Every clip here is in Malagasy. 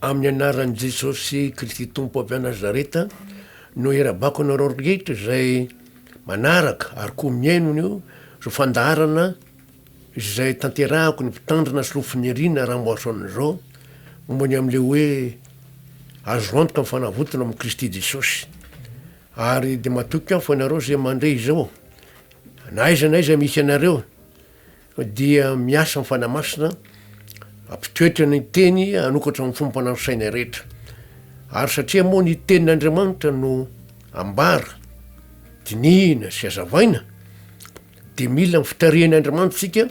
Amin'ny anaran'i Jesosy Kristy Tompo avy any Nazareta no irabako anareo rehetra izay manaraka ary koa mihaino an'io fandaharana izay tanterahako ny mpitandrina sy roa finirina Ramboason izao momba ny amin'ilay hoe azo antoka ny fanavotana amin'i Kristy Jesosy. Ary dia matoky aho fa ianareo izay mandre izao na aiza na aiza misy anareo dia miasa ny Fanahy Masina hampitoetra ny Teny hanokatra ny fomba fanahy ny sainay rehetra. Ary satria moa ny Tenin'Andriamanitra no ambara, dinihina sy azavaina, dia mila ny fitarihan'Andriamanitra isika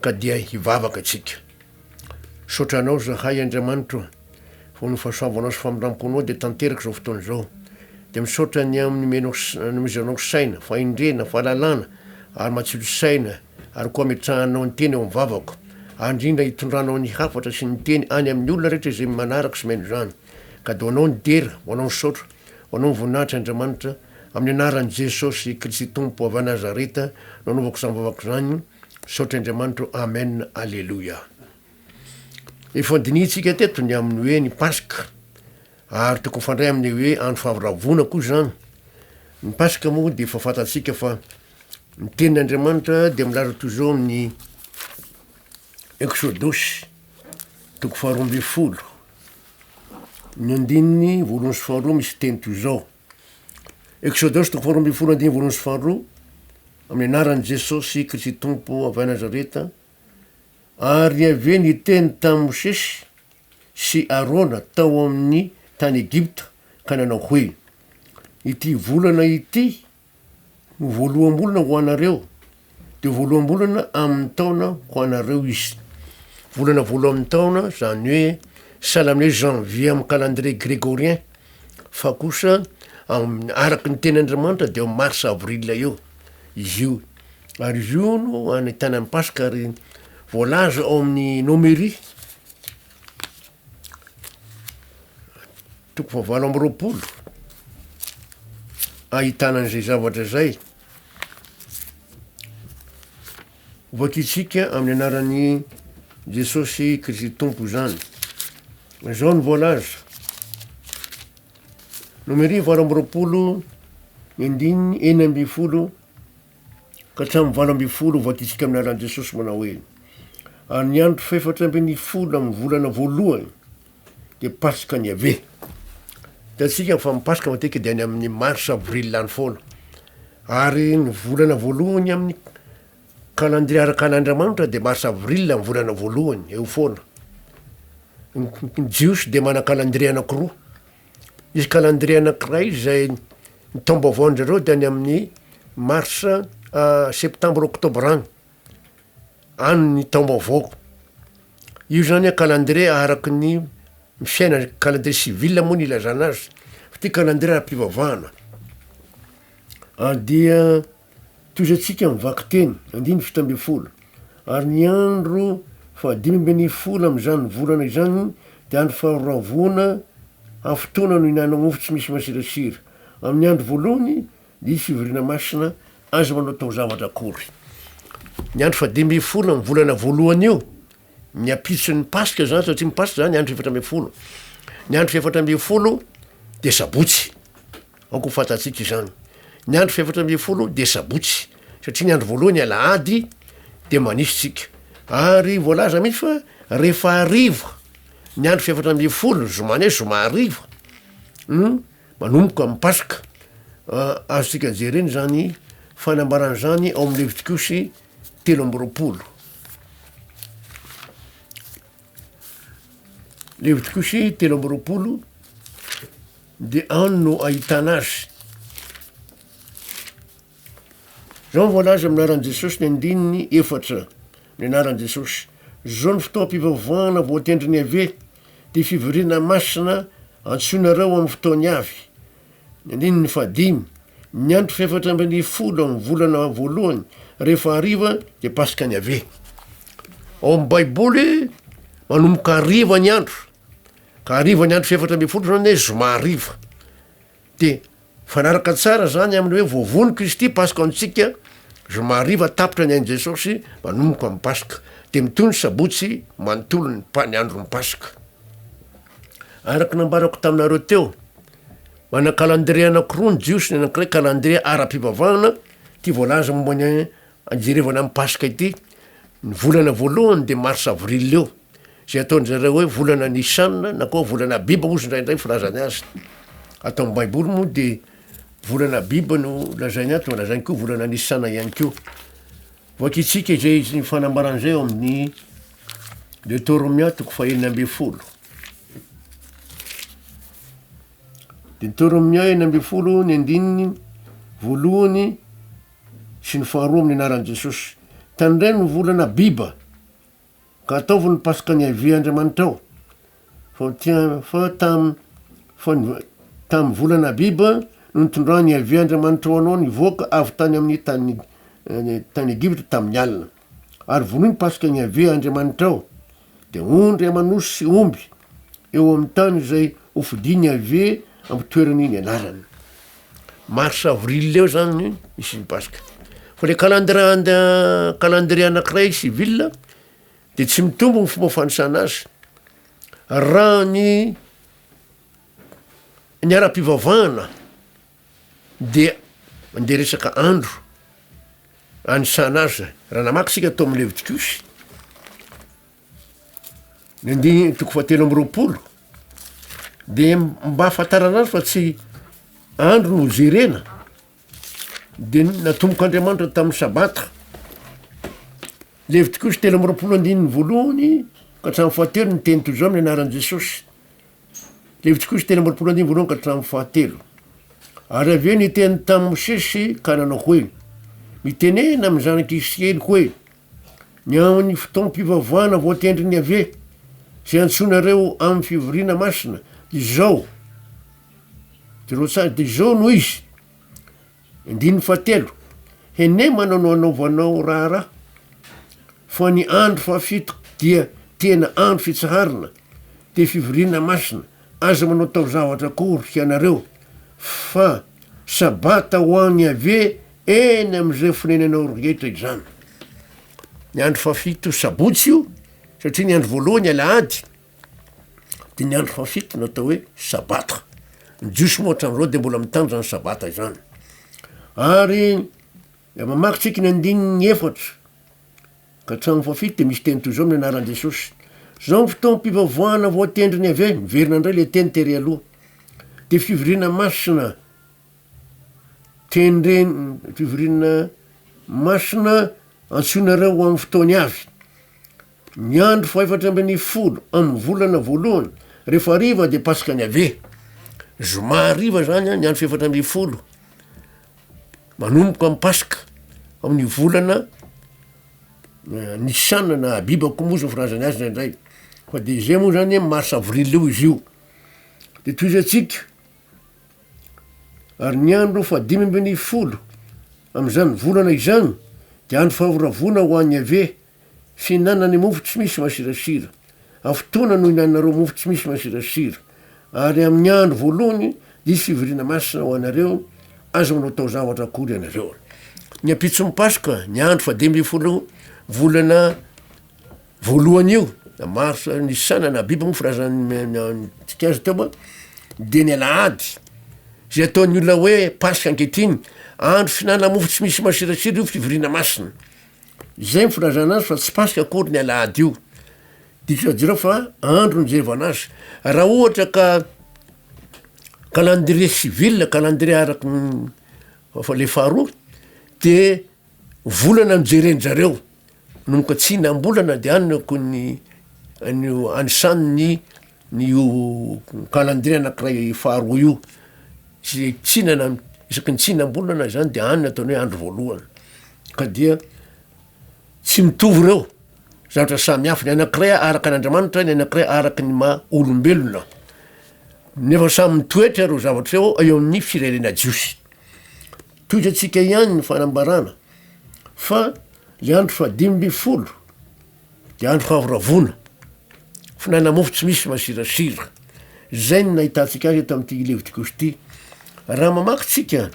ka dia hivavaka isika. Misaotra anao zahay Andriamanitro a! Fony ny fahasoavanao sy famindramponao dia tanteraka izao fotoana izao. Dia misaotra ny amin'ny omenao nomezanao saina, fahendrena, fahalalana ary matsilo saina ary koa ametrahanao ny teny eo amin'ny vavako ary indrindra itondranao ny hafatra sy ny teny any amin'ny olona rehetra izay manaraka sy mihaino izany. Ka dia ho anao ny dera, ho anao ny saotra, ho anao ny voninahitra Andriamanitra, amin'ny anaran'i Jesosy Kristy Tompo avy Nazareta no anaovako izany vavaka izany, Misaotra Andriamanitro Amen Aleloia Efa dinihintsika teto ny amin'ny hoe ny Paska ary tokony hifandray amin'ny hoe andro faharavona koa izany. Ny Paska moa dia efa fantatsika fa ny tenin' Andriamanitra dia milaza toy izao amin'ny Eksodosy toko faharoa ambin'ny folo ny andininy voalohany sy faharoa misy teny toy izao. Eksodosy toko faharoa ambin'ny folo andininy voalohany sy faharoa, amin'ny anaran'i Jesosy Kristy Tompo avy any Nazareta, ary Yaveh niteny tamin'i Mosesy sy Arona tao amin'ny tany Egypta ka nanao hoe, ity volana ity Ho voaloham-bolana ho anareo, dia ho voaloham-bolana amin'ny taona ho anareo izy. Volana voalohan'ny taona, izany hoe sahala amin'ny hoe janvier amin'ny calendrier grégorien, fa kosa amin'ny araky ny tenin'Andriamanitra dia eo amin'ny mars avril eo izy io, ary izy io no ahitana ny paska ary voalaza ao amin'ny nomerie. Toko fahavalo amby roapolo, ahitana an'izay zavatra izay hovakintsika amin'ny anaran'i Jesosy Kristy Tompo izany. Izao no voalaza. Nomeria valo amby roapolo ny andininy enina ambin'ny folo Ka hatramin'ny valo ambin'ny folo ho voaditsika amin'ny lalan'i Jesosy manao hoe, Ary ny andro fahefatra ambin'ny folo amin'ny volana voalohany dia Pasikany Yaveh. Hitantsika fa ny Paska matetika dia any amin'ny mars avril any foana. Ary ny volana voalohany amin'ny kalandria araka an'Andriamanitra dia mars avril ny volana voalohany, eo foana. Ny Jiosy dia manan-kalandria anankiroa. Misy calendrier anankiray izay ny taom-baovaon-drizareo dia any amin'ny mars, septembre, octobre any, any ny taom-baovaoko. Io zany a calendrier araky ny fiaina, calendrier civil moa ny ilazana azy, fa ty calendrier ara-pivavahana dia. Tohizantsika ny vakiteny, andininy fito ambin'ny folo, Ary ny andro fahadimy ambin'ny folo amin'izany volana izany dia andro fahoravoana amin'ny fotoana nihinanao mofo tsy misy masirasira. Amin'ny andro voalohany dia hisy fivoriana masina, aza manao taozavatra akory. Ny andro fahadimy ambin'ny folo amin'ny volana voalohany io, ny ampitson'ny Paska izany, satria ny Paska izany andro efatra ambin'ny folo. Ny andro fahefatra ambin'ny folo dia sabotsy. Aoka ho fantatsika izany. Ny andro fahefatra ambin'ny folo dia sabotsy, satria ny andro voalohany alahady dia manisa isika. Ary voalaza mihitsy fa rehefa hariva ny andro fahefatra ambin'ny folo, zoma ny hoe zoma hariva, no manomboka ny paska. Azontsika jerena izany fanambarana izany ao amin'ny Levitikiosy telo amby roapolo. Levitikosy telo amby roapolo dia any no ahitana azy. Zao ny voalaza amin'ny anaran'i Jesosy ny andininy efatra ny anaran'i Jesosy. Zao ny fotoam-pivavahana voatendrin'i Yaveh, ty fivoriana masina antsoinareo amin'ny fotoany avy. Ny andininy fahadimy, Ny andro fahefatra ambin'ny folo amin'ny volana voalohany, rehefa hariva, dia Paska an'i Yaveh. Ao amin'ny Baiboly, manomboka hariva ny andro, ka hariva ny andro fahefatra ambin'ny folo izany hoe zoma hariva. Dia mifanaraka tsara izany amin'ny hoe voavono Kristy, Paska ho antsika, zoma hariva tapitra ny ain'i Jesosy, manomboka amin'ny Paska. Dia mitohy ny sabotsy manontolo ny andron'ny Paska. Araka ny nambarako taminareo teo, Manan-kalandrie anankiroa ny Jiosy, ny anankiray kalandrie ara-pivavahana, ity voalaza momba ny anjerevana ny Paska ity, ny volana voalohany dia Marsa Avril eo, izay ataon-dry zareo hoe volana Nisan na koa volana Abiba hozy indraindray ny filazany azy. Ato amin'ny Baiboly moa dia volana Abiba no lazainy ato, lazainy koa volana Nisan ihany koa. Vakitsika izay ny fanambarana izay ao amin'ny Deotoromia toko fahenina ambin'ny folo. Deuteronomia enina ambin'ny folo ny andininy voalohany sy ny faharoa amin'ny anaran'i Jesosy. Tandremo ny volana Abiba ka ataovy ny Paska ny Yaveh Andriamanitrao. Fa fa tam fa tam volana Abiba no nitondrany Yaveh Andriamanitrao anao ny voaka avy tany amin'ny tany eh, tany Egypta tamin'ny alina. Ary vonoy ny Paska ny Yaveh Andriamanitrao. Dia ondry aman'osy sy omby eo amin'ny tany izay hofidin'i Yaveh amin'ny toerany nianarany. Mars avril eo zany ny misy ny Paska. Fa le calendrier anda calendrier anankiray civil dia tsy mitombo ny fomba fanisana azy. Raha ny ny ara-pivavahana Dia mandeha resaka andro anisana azy. Raha namaky isika tao amin'ny Levitikosy, ny andininy toko fahatelo amby roapolo, dia mba hahafantarana azy fa tsy andro no hojerena, dia natombok'Andriamanitra tamin'ny sabata. Levitikosy telo amby roapolo andininy voalohany ka hatramin'ny fahatelo ny teny toy izao amin'ny anaran'i Jesosy. Levitsikosy telo amby roapolo andininy voalohany ka hatramin'ny fahatelo. Ary avy eo niteny tamin'i Mosesy ka nanao hoe, Mitenena amin'ny zanak'i Israely hoe, ny amin'ny fotoam-pivavahana voatendrin'i Yaveh, izay antsoinareo amin'ny fivoriana masina, dia izao, jereo tsara, dia izao no izy, Andininy fahatelo, Henemana no anaovanao raharaha, fa ny andro fahafito dia tena andro fitsaharana, dia fivoriana masina, aza manao tao-zavatra akory hianareo, fa sabata ho an'i Iaveh eny amin'izay fonenanao rehetra izany. Ny andro fahafito sabotsy io, satria ny andro voalohany alahady, dia ny andro fahafito no atao hoe sabata, ny jiosy moa hatramin'izao dia mbola mitandrina izany sabata izany, ary raha mamaky isika ny andininy efatra ka hatramin'ny fahafito dia misy teny toy izao amin'ny anaran'i Jesosy, zao ny fotoam-pivavoahana voatendrin'i Yaveh, miverina indray le teny tery aloha, de fivoriana masina tendren- fivoriana masina antsoinareo ho amin'ny fotoany avy, Ny andro fahefatra ambin'ny folo amin'ny volana voalohany, rehefa hariva dia Paskany Yaveh. Zoma hariva izany ny andro fahefatra ambin'ny folo, manomboka ny Paska amin'ny volana Nisana na Abiba koa moa izy no filazana azy indraindray fa de zay moa zany mars avril eo izy io, de tohizantsika ary ny andro fahadimy ambin'ny folo amin'izany volana izany de andro fahavoravoana ho an'i Yaveh. Fihinanany mofo tsy misy masirasira. Amin'ny fotoana nohinanareo mofo tsy misy masirasira, ary amin'ny andro voalohany diso fivoriana masina ho anareo, aza manao taozavatra akory ianareo. Ny ampitson'ny Paska, ny andro fahadimy ambin'ny folo volana voalohany io, na marsa, nisana, na abiba moa firazantsika azy teo, dia ny alahady, izay ataon'ny olona hoe Paska ankehitriny, andro fihinanana mofo tsy misy masirasira io fivoriana masina. Izay ny filazana azy fa tsy Paska akory ny alahady io. Dikany jereo fa andro nijevana azy. Raha ohatra ka calendrier civil, calendrier araky ny fa le faharoa de volana no jeren-jareo no mikatsina am-bolana de any no akon'ny an'io anisan'ny Io kalandrie anakiray faharoa io sy tsina na isaky ny tsina am-bolana izany dia any no ataony hoe andro voalohany ka dia tsy mitovy ireo zavatra samy hafa ny anakiray araka an'Andriamanitra ny anakiray araka ny maha olombelona nefa samy mitoetra ireo zavatra eo eo amin'ny firenena jiosy toy izay tsika ihany ny fanambarana fa ny andro fahadimy ambin'ny folo Dia andro fahavoravoana. Fonenana mofo tsy misy masirasira. Izay no nahitantsika azy eto amin'ity Levitikosy ity. Raha mamaky tsika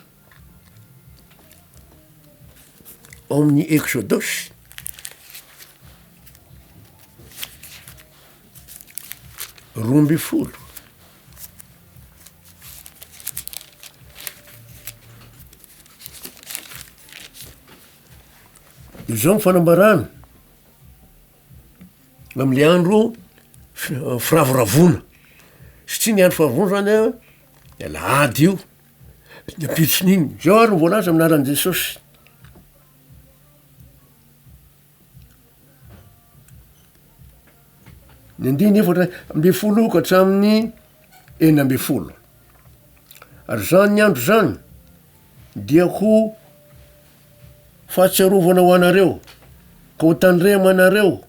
ao amin'ny Eksodosy, roa ambin'ny folo, Izao ny fanambarana, amle andro firavoravoana, satria ny andro firavoravoana zany an, de alahady io, ny ampitson'iny, zao ary no voalaza amin'ny anaran'i Jesosy. Ny andininy efatra ambin'ny folo ka hatramin'ny enina ambin'ny folo, ary zany ny andro zany. dia ho fahatsiarovana ho anareo, ka ho tandremo anareo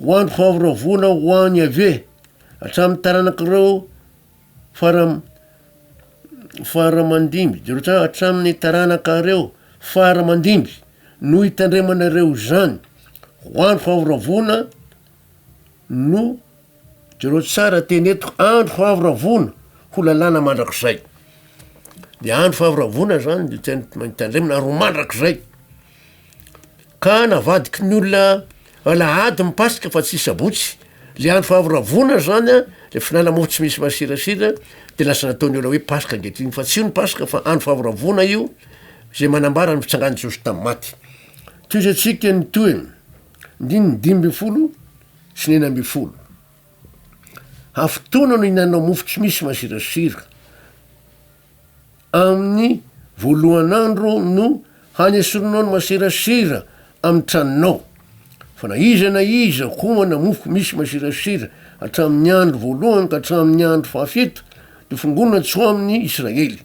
ho andro fahavoravoana ho an'i Iaveh hatramin'ny taranak'ireo fara fara aman-dimby, Jerotsa- hatramin'ny taranakareo fara aman-dimby no hitandremanareo izany ho andro fahavoravoana, no jereo tsara teny eto andro fahavoravoana ho lalàna mandrakizay de andro fahavoravoana zany de tia ny tandremana ary ho mandrakizay ka navadiky ny olona alahady ny paska fa tsy sabotsy le andro fahavoravoana zany a le fihinana mofo tsy misy masirasira de lasa nataon'ny olona hoe paska ankehitriny fa tsy io ny paska fa andro fahavoravoana io zay manambara ny fitsangan'i Jesosy tamin'ny maty toy izay tsika ny tohiny Andininy dimy ambin'ny folo sy ny enina ambin'ny folo, Hafotoana no hinanao mofo tsy misy masirasira, amin'ny voalohan'andro no hanesorinao ny masirasira amin'ny tranonao, fa na iza na iza homana mofo misy masirasira hatramin'ny andro voalohany ka hatramin'ny andro fahafito, dia fongonina tsy ho amin'ny Israely.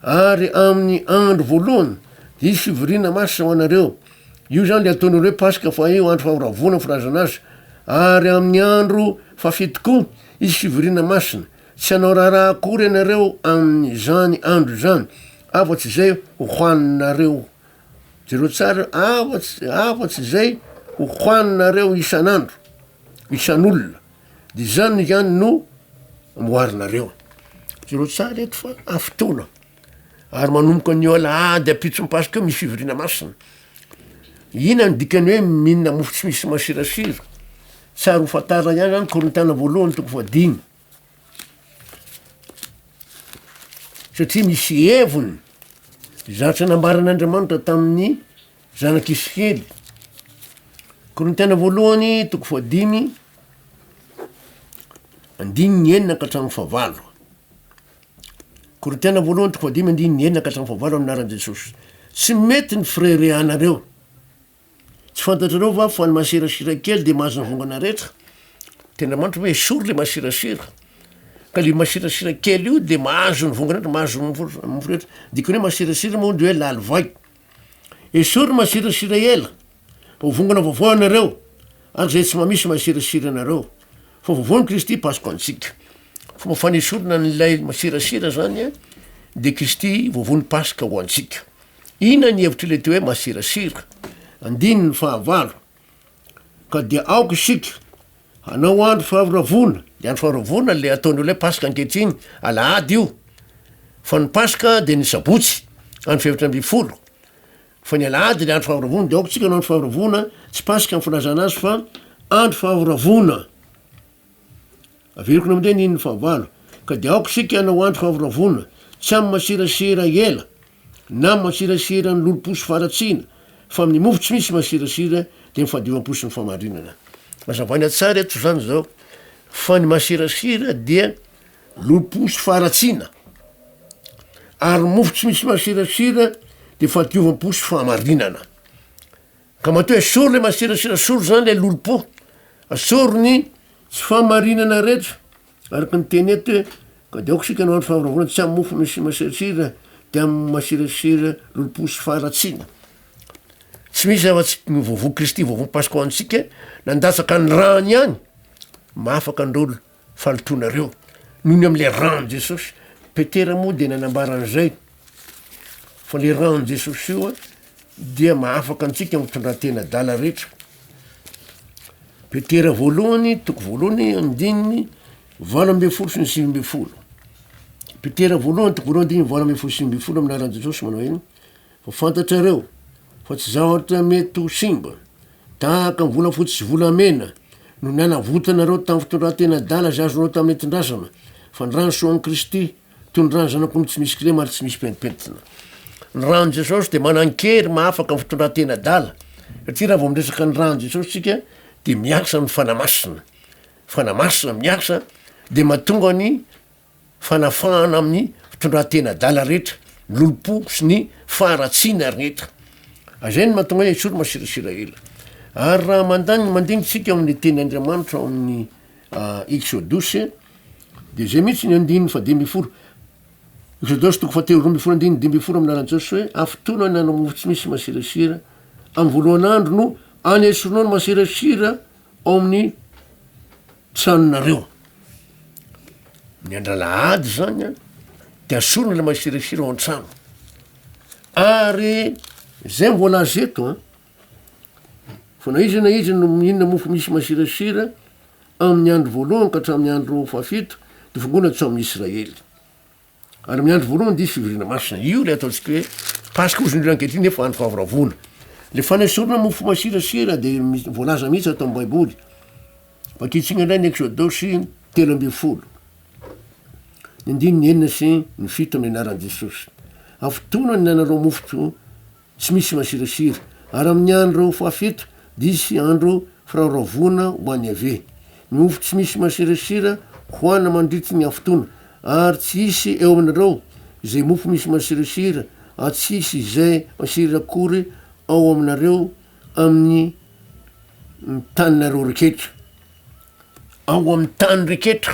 Ary amin'ny andro voalohany, dia hisy fivoriana masina ho anareo. Io izany dia ataon'ireo hoe Paska, fa io andro famoravoana ny filazana azy. Ary amin'ny andro fahafito koa, hisy fivoriana masina. Tsy hanao raharaha akory ianareo amin'izany andro izany, afa-tsy izay hohaninareo, jereo tsara, afa-tsy, afa-tsy izay hohaninareo isan'andro, isan'olona. De izany ihany no amboarinareo. Jereo tsara eto fa amin'ny fotoana, ary manomboka anio alahady ampitso mipasoka eo misy fivoriana masina. Ina ny dikan'ny hoe mihinana mofo tsy misy masirasira? Tsara ho fantarina ihany zany Korintiana voalohany toko fahadimy, satria misy heviny zatra nambaran'Andriamanitra tamin'ny Zanak'Isikely, Korintiana Voalohany, toko fahadimy, andininy enina ka hatramin'ny fahavalo. Korintiana Voalohany, toko fahadimy, andininy enina ka hatramin'ny fahavalo amin'ny anaran'i Jesosy. Tsy mety ny fireharehanareo. Tsy fantatrareo va fa ny masirasira kely dia mahazo ny vongana rehetra? Tena manitra hoe esory le masirasira. Ka le masirasira kely io dia mahazo ny vongana rehetra, mahazo ny mofo rehetra. Dikany hoe masirasira moa dia hoe lalivay. Esory masirasira ela ho vongana vaovao ianareo ary izay tsy mamisy masirasira anareo fa vaovaon'i Kristy Paska antsika. Fomba fanesorana an'ilay masirasira zany a de Kristy vaovaon'i Paska ho antsika. Inona ny hevitr'ilay teo hoe masirasira? Andininy fahavalo. Ka dia aoka isika hanao andro faharavona, ny andro faharavona le ataon'ny olona hoe paska ankehitriny, alahady io, fa ny paska dia ny sabotsy andro fahefatra ambin'ny folo, fa ny alahady le andro faharavona, de aoka isika hanao andro faharavona, tsy paska ny filazana azy fa andro faharavona. Averiko namde ny in'ny fahavalo Ka de aoka isika hanao andro favoravoana Tsy amin'ny masirasira ela Na amin'ny masirasiran'ny lolompo sy faharatsiana Fa amin'ny mofo tsy misy masirasira Dia ny fahadiovam-po sy ny fahamarinana Azavaina tsara eto izany izao Fa ny masirasira dia lolompo sy faharatsiana Ary ny mofo tsy misy masirasira Dia fahadiovam-po sy fahamarinana. Ka matoa esory le masirasira esory zany le lolompo asory ny tsy fahamarinana rehetra araka ny teny eto hoe ka de aoka isika no andro fahavoravoana tsy amin'ny mofo misy masirasira de amin'ny masirasira lolompo sy faharatsiana tsy misy zava-tsy ny vovo kristy vovo paska ho antsika nandatsaka ny rany ihany mahafaka androlo Falotoanareo noho ny amin'ilay ran'i Jesosy. Petera moa dia nanambara an'izay fa ilay ran'i Jesosy io dia mahafaka antsika amin'ny fitondran-tena adala rehetra. Petera voalohany, toko voalohany, andininy valo ambin'ny folo sy ny sivy ambin'ny folo. Petera voalohany, toko voalohany, andininy valo ambin'ny folo sy sivy ambin'ny folo amin'ny anaran'i Jesosy manao hoe Ho fantatrareo fa tsy zavatra mety ho simba, tahaka ny volafotsy sy volamena, no nanavotanareo tamin'ny fitondran-tena adala izay azonao tamin'ny nentin-drazana, fa ny ran'ny soan'i Kristy, toy ny ran'ny Zanak'omby tsy misy kilema ary tsy misy pentimpentina. Ny ran'i Jesosy dia manan-kery mahafaka ny fitondran-tena adala, satria raha vao miresaka ny ran'i Jesosy isika dia miasa ny Fanahy Masina. Fanahy Masina miasa dia mahatonga ny fanafahana amin'ny fitondran-tena adala rehetra, ny lolompo sy ny faharatsiana ary ny hetra. Izay no mahatonga ahy esory masirasira ela. Ary raha mandany ny mandinitsika ao amin'ny teny Andriamanitra ao amin'ny Eksodosy dia izay mihitsy ny andininy fa dimy ambin'ny folo. Eksodosy toko fahatelo roa ambin'ny folo andininy dimy ambin'ny folo amin'ny lalan'i Jesosy hoe afotoana ny hanao mofo tsy misy masirasira, amin'ny voalohan'andro no anesorinao ny masirasira Ao amin'ny tranonareo. Ny andro alahady zany a de asorina ilay masirasira ao an-trano, ary zay no voalaza eto a fa na iza na iza no mihinana mofo misy masirasira amin'ny andro voalohany ka hatramin'ny andro fahafito de vongoina tsy ao amin'ny Israely. Ary amin'ny andro voalohany dia fivoriana masina. Io ilay ataontsika hoe Paska hozy indrindra ankehitriny nefa andro fahavoravoana. Ilay fanesorana mofo masirasira dia voalaza mihitsy ato amin'ny Baiboly. Vakitsina indray ny Eksodosy telo ambin'ny folo. Ny andininy enina sy ny fito amin'ny anaran'i Jesosy. Afotoana ny nanarao mofo Tsy misy masirasira. Ary amin' ny andro fahafito dia hisy andro firaoraovoana ho an' Iaveh. Ny mofo tsy misy masirasira hohanina mandritra ny hafotoana, ary tsy hisy eo aminareo izay mofo misy masirasira, ary tsy hisy izay masira akory ao aminareo amin' ny taninareo reketra. Ao amin' ny tany reketra.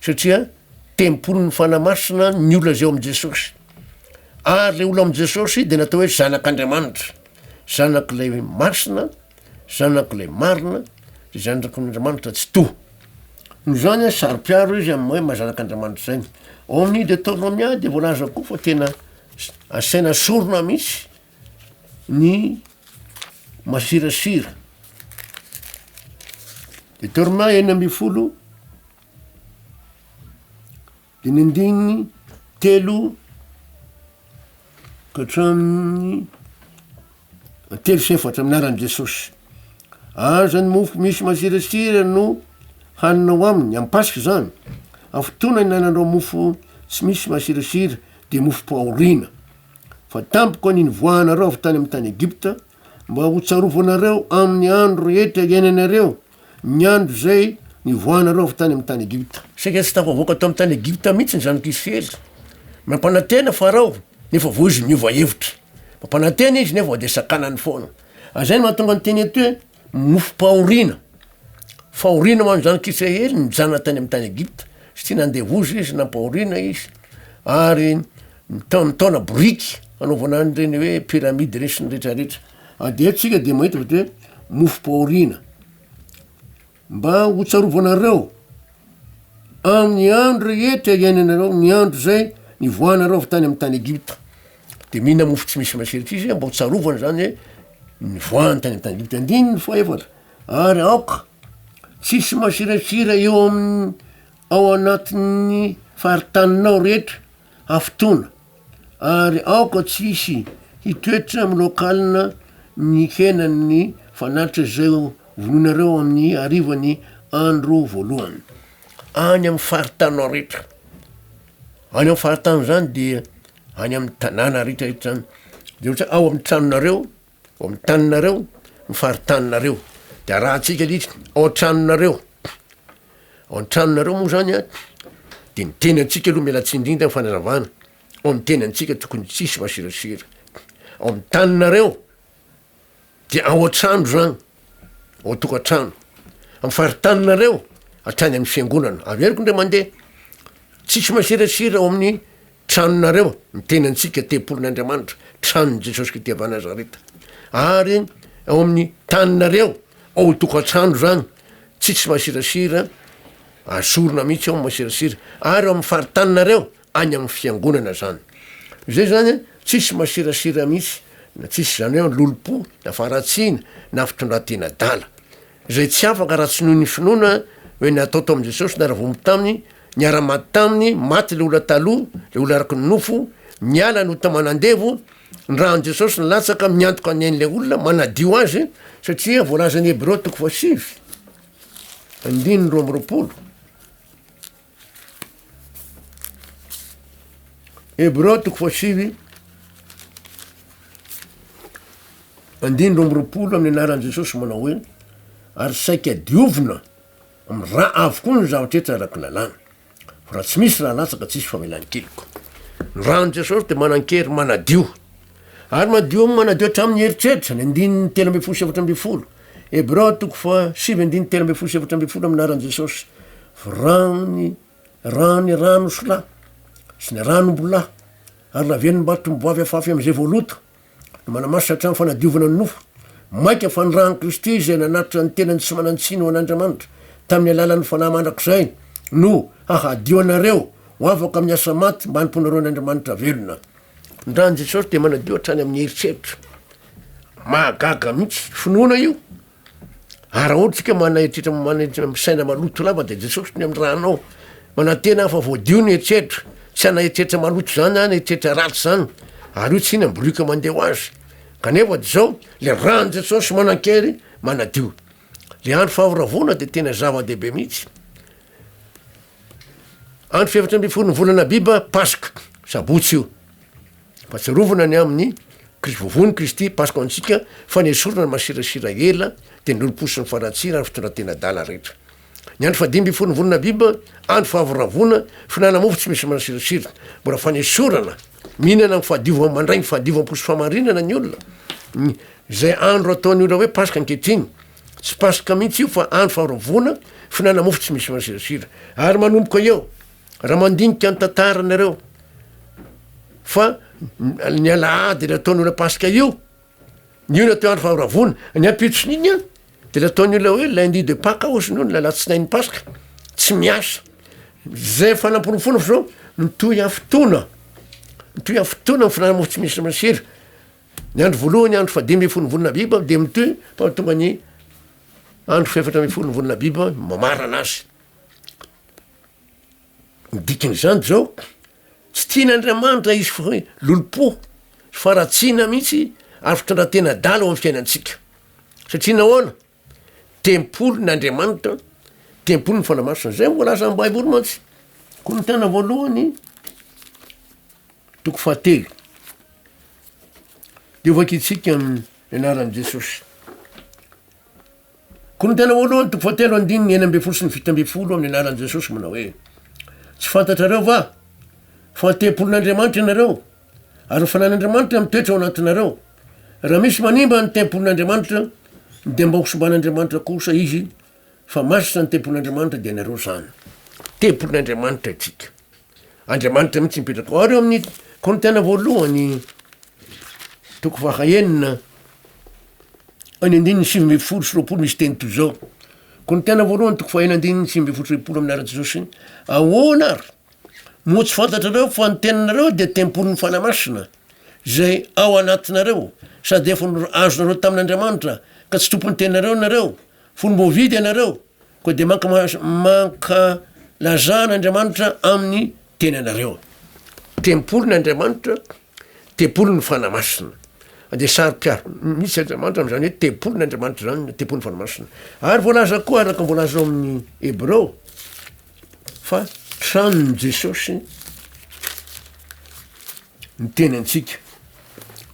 satria tempolin'ny Fanahy Masina ny olona izay ao amin'i Jesosy. Ary ilay olona amin'i Jesosy dia natao hoe zanak'Andriamanitra, zanak'ilay masina, zanak'ilay marina, dia zanak'Andriamanitra Tsitoha. Noho izany a, saro-piaro izy amin'ny hoe maha-zanak'Andriamanitra izany. Ao amin'ny Deoteronomia dia voalaza koa fa tena asaina sorona mihitsy ny masirasira de torna enina ambin'ny folo de ny andininy telo ka hatramin'ny telo sy efatra amin'ny anaran'i Jesosy, aza ny mofo misy masirasira no haninao aminy amin'ny Paska zany, amin'ny fotoana ihinananao mofo tsy misy masirasira de mofom-pahoriana. Fa tampoka ny nivoahanareo avy tany amin'ny tany Egypta, mba hotsarovanareo amin'ny andro rehetra iainanareo, ny andro izay nivoahanareo avy tany amin'ny tany Egypta. Saingy tsy tafavoaka tao amin'ny tany Egypta mihitsy ny zanak'Israely. Nampanantena Farao, nefa vao izy niova hevitra. Nampanantena izy, nefa vao dia sakanany foana. Ary izay no mahatonga ny teny eto hoe Mofom-pahoriana, fahoriana ho an'ny zanak'Israely nijanona tany amin'ny tany Egypta satria nandevoza izy, nampahoriana izy, ary nita- nitaona boriky hanaovana an'ireny hoe pyramide ireny sy ny rehetra rehetra. A dia eto tsika dia mahita ohatra hoe mofom-pahoriana, mba ho tsarovanareo amin'ny andro rehetra iainanareo, ny andro zay nivoahanareo avy tany amin'ny tany Egypta. Dia mihinana mofo tsy misy masiritra izy mba ho tsarovana izany hoe ny voany tany an-tany. Andininy fahaefatra, ary aoka tsisy masiratsira eo amin'ny ao anatin'ny faritaninao rehetra hafotoana, ary aoka tsisy hitoetra miloakalina ny henan'ny fanatitra izay vonoinareo amin'ny harivan'ny andro voalohany any amin'ny faritaninao rehetra. Any amin'ny faritany zany de any amin'ny tanàna retraretra de ohatra ao amin'ny tranonareo, ao amin'ny taninareo, ny faritaninareo de arahantsika letsy ao an-tranonareo, ao an-tranonareo moa zany a de ny teny antsika aloha miala tsiny indrindra ny fanazavana, ao amin'ny teny antsika tokony tsisy masirasira, ao amin'ny taninareo dia ao an-trano izany, ao an-tokantrano, amin'ny faritaninareo hatrany amin'ny fiangonana, averiko indray mandeha, tsisy masirasira ao amin'ny tranonareo, ny tenantsika tempolin'Andriamanitra, tranon'i Jesosy Kristy avy Nazareta, ary ao amin'ny taninareo, ao an-tokantrano izany, tsisy masirasira, asorina mihitsy ao ny masirasira, ary ao amin'ny faritaninareo, any amin'ny fiangonana zany zay zany an tsisy masirasira mihitsy na tsisy zany hoe lolompo na faharatsiana na fitondratena adala zay tsy afaka raha tsy noho ny finoana hoe natao tao amin'i Jesosy niara-voaomby taminy niara-maty taminy maty le olona taloha le olona araka ny nofo miala ny ota manandevo ny rahan'i Jesosy nilatsaka miantoka ny ain'ilay olona manadio azy satria voalazan'ny Hebreo toko fahasivy andininy roa amby roapolo Hebreo toko fahasivy andiny roa amby roapolo amin'ny anaran'i Jesosy manao hoe ary saika diovina amin'ny ra avokoa ny zavatra etra araka ny lalàna fa raha tsy misy raha latsaka tsisy famelan-keloka ny ran'i Jesosy dia manan-kery manadio Ary madio amin'ny manadio hatramin'ny eritreritra, ny andininy telo ambin'ny folo sy efatra ambin'ny folo, Hebreo toko faha sivy andininy telo ambin'ny folo sy efatra ambin'ny folo amin'ny anaran'i Jesosy, virany rany rano solà sy ny ranom-bolà ary laven'ny mbatom-boavy afafy amin'izay voaloto, no manamasina hatramin'ny fanadiovana ny nofo, mainka fa ny ran'i Kristy izay nanatitra ny tenany tsy manan-tsiny ho an'Andriamanitra tamin'ny alalan'ny Fanahy Mandrakizay no hahadio anareo ho afaka amin'ny asa maty mba hanompoanareo an'Andriamanitra velona. Ndra an'i Jesosy dia manadio hatrany amin'ny eritreritra. Mahagaga mihitsy, finoana io. Ary raha ohatra tsika manana eritreritra manana misaina maloto lava dia Jesosy ny amin'ny raha anao. Manantena aho fa voadio ny eritreritra. Tsy hanana eritreritra maloto zany aho na eritreritra ratsy zany. Ary io tsy inona boriky mandeha ho azy. Kanefa dia zao, le ran'i Jesosy manankery manadio. Le andro fahavoravoana dia tena zava-dehibe mihitsy. Andro fahefatra ambin'ny folon'ny volana Abiba, Paska, Sabotsy io. Fahatsiarovana ny amin'ny Kris- vovoan'i Kristy, Paska ho antsika, fa nesorina ny masirasira ela, dia ny olom-po sy ny fanatsira ary fitondran-tena adala rehetra. Ny andro fahadimy ambin'ny folon'ny volana Abiba, andro fahavoravoana, fihinanana mofo tsy misy masirasira, mbola fanesorana, mihinana amin'ny fahadiovam- mandray ny fahadiovam-po sy fahamarinana ny olona, ny- izay andro ataon'ny olona hoe Paska ankehitriny. Tsy paska mihitsy io fa andro faharoavoana, fihinana mofo tsy misy masirasira. Ary manomboka eo, raha mandinika ny tantaranareo, fa ny alahady ilay ataon'ny olona paska io, io no atao andro faharoavoana. Ny ampitson'iny an, dia ilay ataon'ny olona hoe lundi de paka ozy no ilay alatsinain'ny paska, tsy miasa. Zay efa namporofoana fa zao mitohy afotoana, mitohy afotoana ny fihinana mofo tsy misy masira. Ny andro voalohany andro fahadimy ambin'ny folo ny volana Abiba dia mitohy fa tonga ny andro fahefatra ambin'ny folo ny volana Abiba mamarana azy. Ny dikan'izany dia zao, tsy tian'Andriamanitra izy fa hoe lolompo, faharatsiana mihitsy ary fitondran-tena adala ao am'fiainantsika. Satria nahoana? Tempolin' Andriamanitra, Tempolin' ny Fanahy Masina. Zay ny voalazan' ny Baiboly mantsy. Korintiana voalohany toko fahatelo. De vakintsika amin'ny anaran'i Jesosy. Korintiana voalohany toko fahatelo andininy enina ambin'ny folo sy ny fito ambin'ny folo amin'ny anaran'i Jesosy manao hoe tsy fantatrareo va fa tempolin'Andriamanitra ianareo Ary ho fanan'Andriamanitra mitoetra ao anatinareo. Raha misy manimba ny tempolin'Andriamanitra, dia mba hosimban'Andriamanitra kosa izy, fa masina ny tempolin'Andriamanitra dia ianareo izany. Tempolin'Andriamanitra itsika. Andriamanitra mihitsy mipetraka ao. Ary eo amin'ny Korintiana voalohany, toko fahaenina, any andininy sivy ambin'ny folo sy roapolo misy teny toy izao. Korintiana voalohany toko fahaenina andininy sivy ambin'ny folo sy roapolo amin'ny anaran'i Jesosy. Ahoana ary? Moa tsy fantatrareo fa ny teninareo dia tempolin'ny Fanahy Masina, izay ao anatinareo, sady efa azonareo tamin'Andriamanitra, ka tsy tompon'ny teninareo nareo, fony voavidy ianareo, koa dia mankalazà an'Andriamanitra amin'ny tenanareo. Tempolin'Andriamanitra. Tempoly ny Fanahy Masina. Dia saro-piaro mihitsy Andriamanitra amin'izany hoe tempoly ny Andriamanitra izany ny tempoly ny Fanahy Masina. Ary voalaza koa araka ny voalaza ao amin'ny Hebreo fa tranon'i Jesosy ny teny antsika.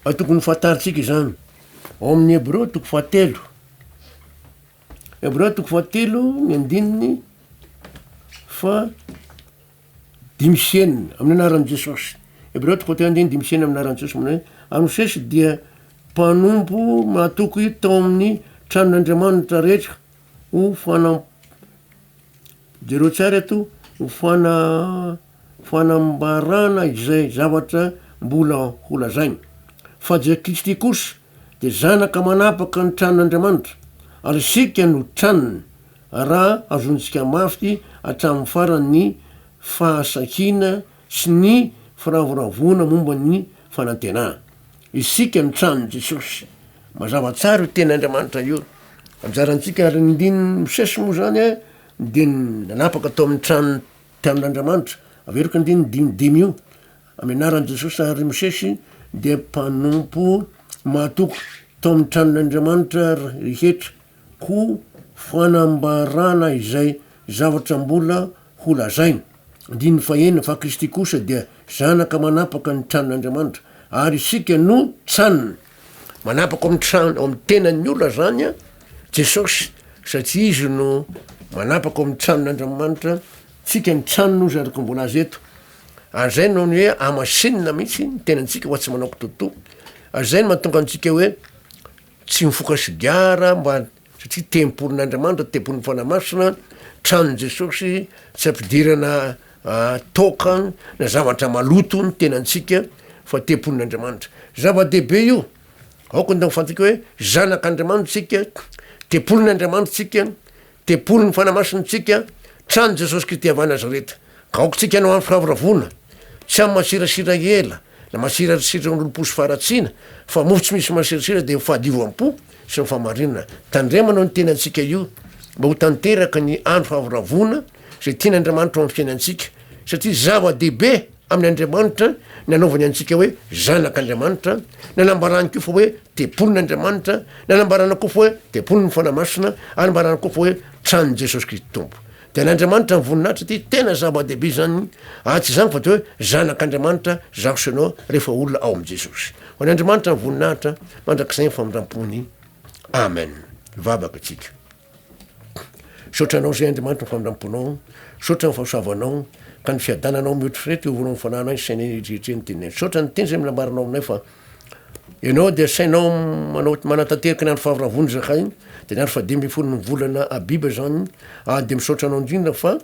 Tokony fantarintsika izany. Ao amin'ny Hebreo toko fahatelo. Hebreo toko fahatelo ny andininy fa dimy sy enina, amin'ny anaran'i Jesosy. Hebreo toko fahatelo andiny dimy sy enina amin'ny anaran'i Jesosy manao hoe, Ary Mosesy dia mpanompo mahatoky tao amin'ny tranon'Andriamanitra rehetra ho fana jereo tsara eto ho fana fanambarana izay zavatra mbola holazainy fa Jesosy Kristy kosa dia zanaka manapaka ny tranon'Andriamanitra ary isika no tranony Raha azontsika mafy hatramin'ny farany ny fahasahiana sy ny firavoravoana momba ny fanantenana, isika ny tranon'i Jesosy, mazava tsara io teny Andriamanitra io. Anjarantsika ary ny ndininy misesy moa izany dia ny nanapaka tao amin'ny tranon'ny mpianon'Andriamanitra. Averiko andininy dimy dimy io, amin'ny anaran'i Jesosy ary Mosesy dia mpanompo mahatoky tao amin'ny tranon'Andriamanitra rehetra. Ho fanambarana izay zavatra mbola ho lazaina. Andininy fahenina, Fa Kristy kosa dia zanaka manapaka ny tranon'Andriamanitra, ary isika no tranony. Manapaka ao amin'ny trano, ao amin'ny tenan'ny olona izany Jesosy, satria izy no manapaka ao amin'ny tranon'Andriamanitra, tsika ny tranony ozy araka ny voalaza eto. Ary izay no hoe hamasinina mihitsy ny tenantsika ho tsy manao kitotoa. Ary izay no mahatonga antsika hoe Tsy mifoka sigara mba satria tempolin'Andriamanitra, tempolin'ny Fanahy Masina, tranon'i Jesosy, tsy ampidirana toaka na zavatra maloto ny tenantsika fa tempolin'Andriamanitra. Zava-dehibe io, aoka ny fantatra hoe zanak'Andriamanitra isika, tempolin'Andriamanitra isika, Tempoly ny fanamasintsika, Tranon'i Jesosy Kristy avy any Nazareta. Ka aokantsika hanao amin'ny firavoravoana, tsy amin'ny masirasira ela na masirasira olom-po sy faharatsiana, fa mofo tsy misy masirasira dia ny fahadiovam-po sy ny fahamarinana. Tandremana ny tenantsika io mba ho tanteraka ny andro fahavoravoana izay tian'Andriamanitra ho amin'ny fiainantsika, satria zava-dehibe. Amin' Andriamanitra, nanaovany antsika hoe zanak' Andriamanitra, nanambarany koa fa hoe tempolin' Andriamanitra, nanambarana koa fa hoe tempolin' ny Fanahy Masina, ary nambarana koa fa hoe tranon' i Jesosy Kristy Tompo. Dia an' Andriamanitra ny voninahitra ity, tena zava-dehibe izany, ary tsy izany fa dia hoe zanak' Andriamanitra izaho sy ianao rehefa olona ao amin' i Jesosy. Ho an' Andriamanitra ny voninahitra mandrakizay ny famindram-pony. Amen. Vavaka isika. Misaotra anao izay Andriamanitra ny famindram-ponao, misaotra ny fahasoavanao, ka ny fiadananao mihoatr' ireto eo voalohany fananay sy sainay rehetra ny teninay. Misaotra ny teny izay nambaranao aminay fa Ianao dia sainao manao manatanteraka ny andro faharavon'ny zakay, dia ny andro fahadimy ambin'ny folo ny volana Abiba izany, ary dia misaotra anao indrindra fa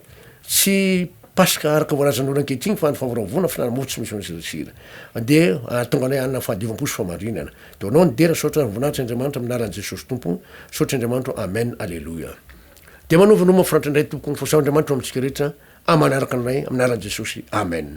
tsy Paska araka voalazan'ny olo ankehitriny fa andro faharavona fihinanam-mofo tsy misy masira, dia ahatonga anay hanana fahadiovam-po sy fahamarinana. Donao ny dera saotra voninahitra Andriamanitra amin'ny anaran'i Jesosy Tompo saotra Andriamanitro Amen Aleloia Dia manovo ny ho mafinaritra indray ny Tompoko Mifasaho Andriamanitra ho amintsika rehetra amanaraka ny Ray amin'ny anaran'i Jesosy Amen.